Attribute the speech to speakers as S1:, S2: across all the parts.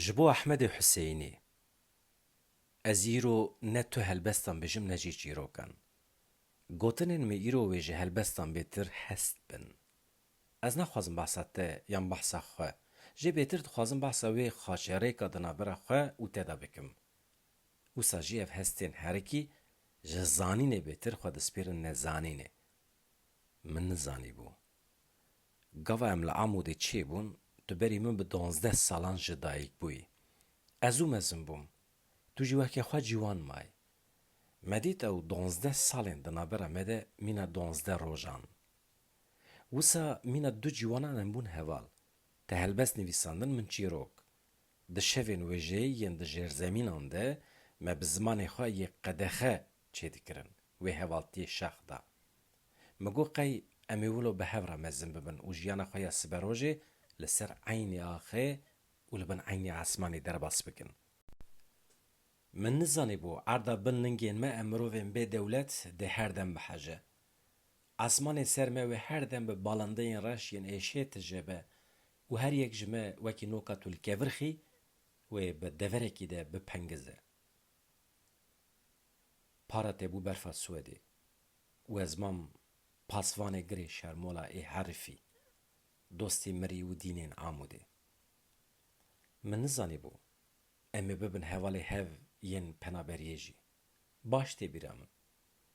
S1: Ji bo Ehmedê Huseyînî Ez îro ne tu helbestan bijim ne jî çîrokan. Gotinên min îro wê ji helbestan bêtir hest bin. Ez naxwazim behsa te yan behsa xwe, jê bêtir dixwazim behsa wê xaçerêka di navbera xwe û te de bikim. Wisa jî ev hestên herikî ji zanînê bêtir xwe dispêrin nezanînê. Min nizanîbû. Gava em li Amûdê çêbûn, tu berî min bi duwazdeh salan jî dayîk bûyî. Ez û mezin bûm. Tu jî weke xwe ciwan mayî. Me dît ew duwazdeh salên di navbera me de mîna duwazdeh rojan. Wisa mîna du ciwanan em bûn heval. Te helbest nivîsandin min çîrok. Di şevên wêjeyê yên di jêrzemînan de me bi zimanê xwe yê qedexe çêdikirin wê hevaltiyê şax da. Min got qey em ê wilo bi hev re mezin bibin û jiyana xwe ya siberojê li ser eynê axê û li bin eynê esmanê derbas bikin. Min nizanîbû erda bin lingên me em mirovên bê dewlet dê her dem biheje. Esmanê ser me wê her dem bi balindeyên reş yên êşê tije be û her yek ji me wekî noka tulkevirxî wê bi deverekî de bipengize. Para tê bû berfa Swedê. We ziman pasvanê girê şermola ê herifî, dostê mirî û dînên Amûdê. Min nizanîbû em ê bibin hevalê hev yên penaberiyê jî. Baş tê bîra min.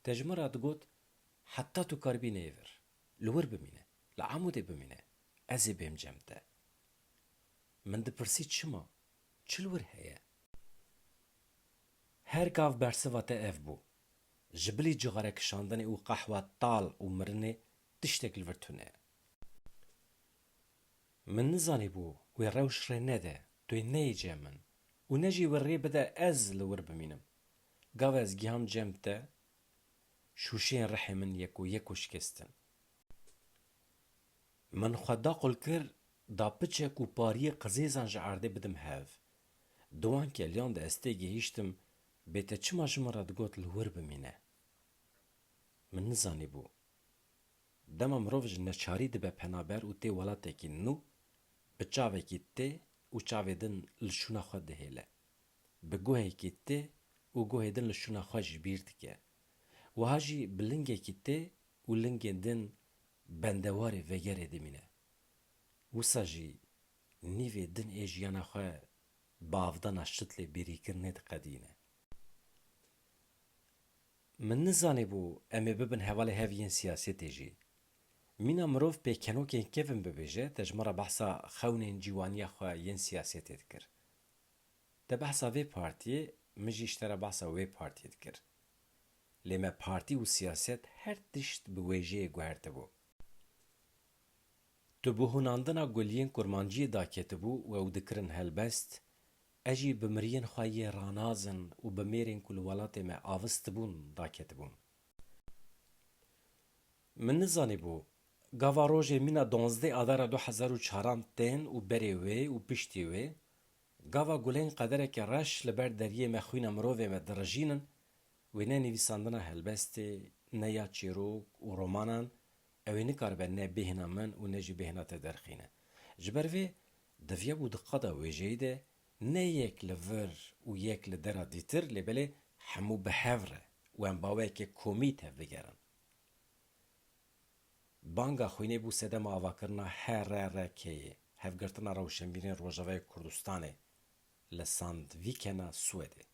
S1: Te ji min re digot heta tu karibî neyê vir, li wir bimîne, li Amûdê bimîne, ez ê bêm cem te. Min dipirsî çima, çi li wir heye? Her gav bersiva te ev bû, Ji bilî cixare kişandinê û qehwa tal û mirinê tiştek li vir tune. Min nizanîbû wê rewş rê nede, tu yê neyê cem min û ne jî wê rê bide ez li wir bimînim. Gav ez giham cem te, şûşeyên rihê min yek û yek û şikestin. Min xwe da qul kir da piçek û pariyê qizêzan ji erdê bidim hev. Di wan keliyan de ez tê gihîştim Bê te çima ji min re digot li wir bimîne? Min nizanîbû. Dema mirov ji neçarî dibe penaber û tê welatekî nû, bi çavekî tê û çavê din li şûna xwe dihêle. Bi guhekî tê û guhê din li şûna xwe ji bîr dike. Wiha jî bi lingekî tê û lingên din bendewarê vegerê dimîne. Wisa jî Nîvê din ê jiyana xwe bavdana şit lê bêrîkirinê diqedîne. Min nizanîbû em ê bibin hevalê hev yên siyasêtê jî. Mîna mirov pêkenokên kevn bibêje te ji min re behsa xewnên cîwaniya xwe yên siyasêtê dikir. Te behsa vê partiyê min jî ji te re behsa wê partiyê dikir. Lê me partî û siyaset her tişt bi wêjeyê guhertibû. Tu bi hunandina gul yên kurmanciyê daketibû we û dikirin helbest, ez jî bi miriyên xwe yê ranazin û bi mêrên ku li welatê me avistibûn daketibûm. Min nizanîbû gava rojê mîna duwazdeh adara du hezar û çar an tên û berê wê û piştî wê gava gulên qedereke reş li ber deriyê me xwîna mirovê me dirijînin wê ne nivîsandina helbestê ne ya çîrok û romanan Ew ê nikaribe ne bêhna min û ne jî bêhna te derxîne. Ji ber vê divya û di qada wêjeyî de ne yek li vir û yek li dera dîtir lê belê hemû bi hev re û em baweyekê komî tevbigerin. Banga xwînê bû sedema avakirina HRRK'ê, Hevgirtina Rewşenbîrên Rojavayê Kurdistanê, li Sandvikena Swedê.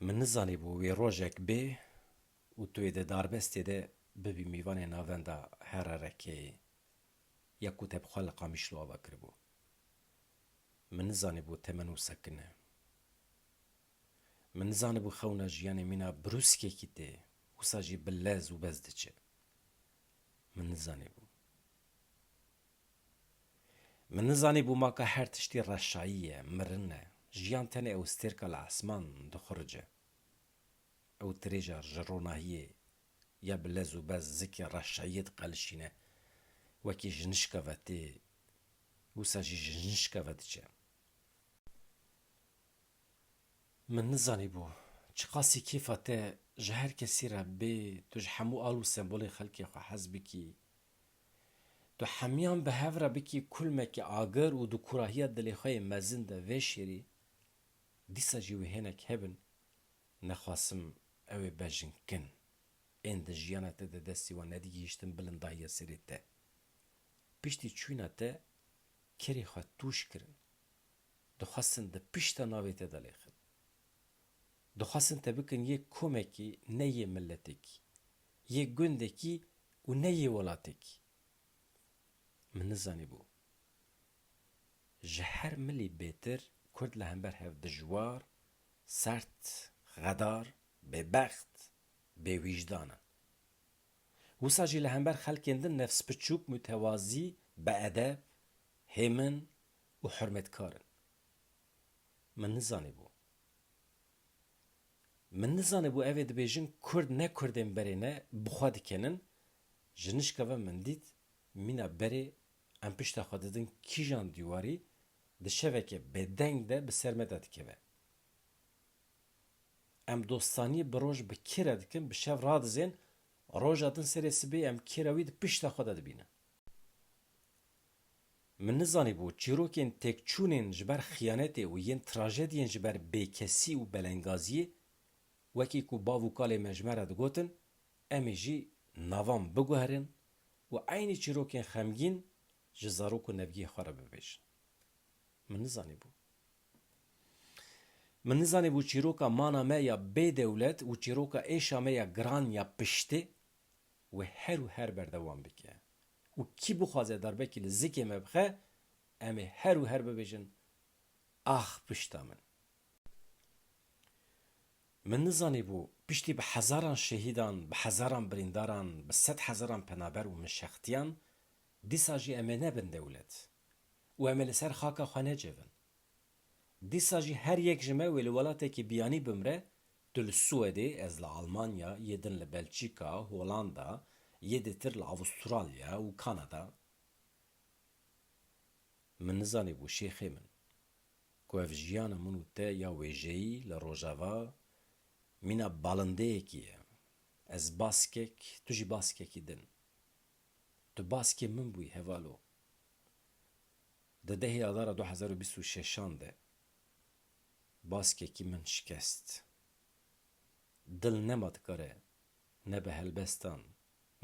S1: Min nizanîbû wê rojek bê Û tu yê di darbestê de bibî mîvanê navenda HRRK'ê ya ku te bi xwe li Qamişlo ava kiribû. Min nizanibû temen û sekin e. Min nizanibû xewna jiyanê mîna brûskekî tê, wisa jî bi lez û bez diçe. Min nizanibû. Min nizanibû maka her tiştî reşayî ye, mirin e. Jiyan tenê ewstêrka li esman dixurice. Ew dirêja ji ronahiyê ya bi lez û bez zikê reşayiyê diqelişîne. Wekî ji nişka ve tê, wisa jî ji nişka ve diçe. Min nizanîbû çiqasî kêfa te ji her kesî re bê, tu ji hemû al û sembolên xelkê xwe hez bikî. Tu hemiyan bi hev re bikî kulmeke agir û di kurahiya dilê xwe yê mezin de vêşêrî. Dîsa jî wê hênek hebin nexwasim ew ê bejn kin. Ên di jiyana te de destî wan nedigihîştin bilindahiya serê te. Piştî çûyna te kerê xwe tûş kirin. Dixwestin di pişta navê te de lêxin. Dixwestin te bikin yê komekî ne yê miletekî, yê gundekî û ne yê welatekî. Min nizanîbû. Ji her milî bêtir kurd li hember hev dijwar, sert, xedar, bêbext, bêwîjdan in. Wisa jî li hember xelkên din nefsbiçûk, mutewazî, beedeb, hêmin û hurmetkar in. Min nizanîbû. Min nizanîbû ev ê dibêjin kurd ne kurdên berê ne bi xwe dikenin, ji nişka ve min dît mîna berê Em pişta xwe didin kîjan dîwarî di şeveke bêdeng de bi ser me de dikeve. Em dostanî bi roj bi kê re dikin, bi şev radizên, roja din serê sibê em kê re wî di pişta xwe de dibînin. Min nizanîbû çîrokên têkçûnên ji ber xiyanetê û yên trajediyên ji ber bêkesî û belengaziyê, wekî ku bav û kalê me ji me re digotin, Em ê jî navan biguherîn û eynî çîrokên xemgîn ji zarok û nevgiyê xwe re bibêjin. Min nizanîbû. Min nizanîbû çîroka mana me ya bê dewlet û çîroka êşa me ya giran ya piştê wê her û her berdewam bike û kî bixwaze darbekî li zikê me bixe em ê her û her bibêjin Ax pişta min! Min nizanîbû piştî bi hezaran şehîdan, bi hezaran birîndaran, bi sed hezaran penaber û mişextiyan dîsa jî em ê nebin dewlet û em ê li ser xaka xwe necivin. Dîsa jî her yek ji me wê li welatekî biyanî bimre, tu li Swedê, ez li Almanya, yê din li Belçîka, Holanda, yê dêtir li Avustralya û Kanada. Min nizanîbû şêxê min. ku ev jiyana min û te ya wêjeyî li Rojava mîna balindeyekî ye. Ez baskek, tu jî baskekî din. Tu baskê min bûyî hevalo. Di dehê Adara du hezar û bîst û şeşan de baskekî min şikest. Dil nema dikare ne bi helbestan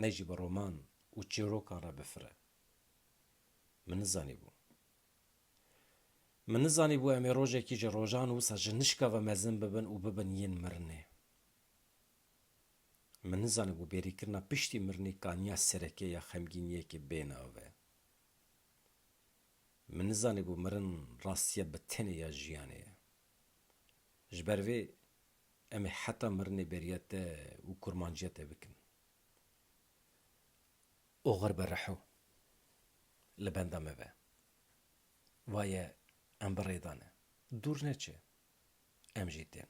S1: ne jî bi roman û çîrokan re bifire. Min nizanîbû Min nizanîbû em ê rojekî ji rojan wisa ji nişka ve mezin bibin û bibin yên mirinê. Min nizanîbû bêrîkirina piştî mirinê kaniya sereke ya xemgîniyekê bê nave. Min nizanîbû mirin rastiya bi tenê ya jiyanê ye. Ji ber vê em ê heta mirinê beriya te û kurmanciya te bikin. Oxir bi reho li benda me be. Vaye em bi rê de ne. Dûr neçe. Em jî tên.